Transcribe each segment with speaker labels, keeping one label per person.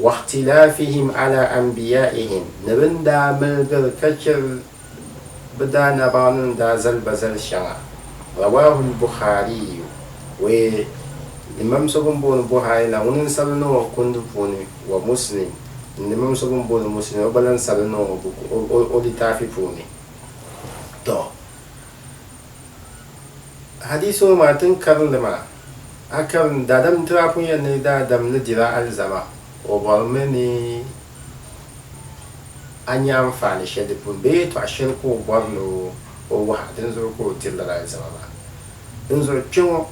Speaker 1: Wakhtilafihim ala anbiyaihim, ni bɛ ni daa miligiri ka chɛ bɛ daanabaɣinima ni daa zali ba zali shɛŋa, Rawaahu al-Bukhaariyu, Wee, Imam so bɛn booni Buhari la ŋuni n-sabili niŋ o kundi puuni, wa Muslim, ni Imam so bɛn booni Muslim o gba lan sabili niŋ o o litaafi puuni. Tɔ! Hadiisi ŋɔ maa tin karinli maa. A karim daadam Tirapu yɛn ni daadam ni dila alizama, o bɔrimi ni a nya anfaani shɛli di puuni bee yɛtɔɣ shɛli ka o bɔri ni o wahi a, dinzuɣu ka o diri lala alizama maa. Dinzuɣu kpɛŋɔ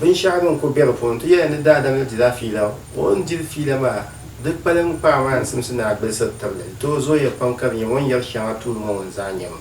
Speaker 1: binshɛɣu din ku be di puuni nti yɛli ni daadam ni dila fiila, o ni diri fiila maa di kpalim kpaai maa n-simsi ni a gbilisiri tibili, di tooi zooya pam ka di nyɛ o ni yɛri shɛŋa tuuli ŋɔ ŋun zaa nyami.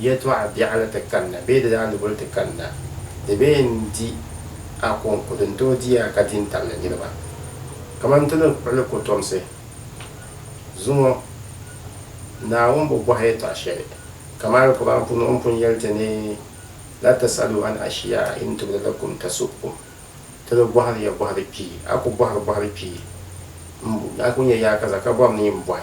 Speaker 1: yɛtɔɣ biɛɣuni ti kanna bee di daa ni guli ti kanna, di bee n-di a kɔŋko din tooi di a ka di ni tabili niriba. Kaman ti ni kpuɣili kɔtomsi zuŋɔ, Naawuni bi bɔhi yɛtɔɣ shɛli, kaman alikɔbani puuni o ni pun yɛli ti ni, La tasalu an ashiyaa in tubda lakum tasu'kum, Ti ni bɔhiri ya bɔhiri kpii, a ku bɔhiri bɔhiri kpii, a ku nya yaakaza ka bɔri ni yi ni bɔhi.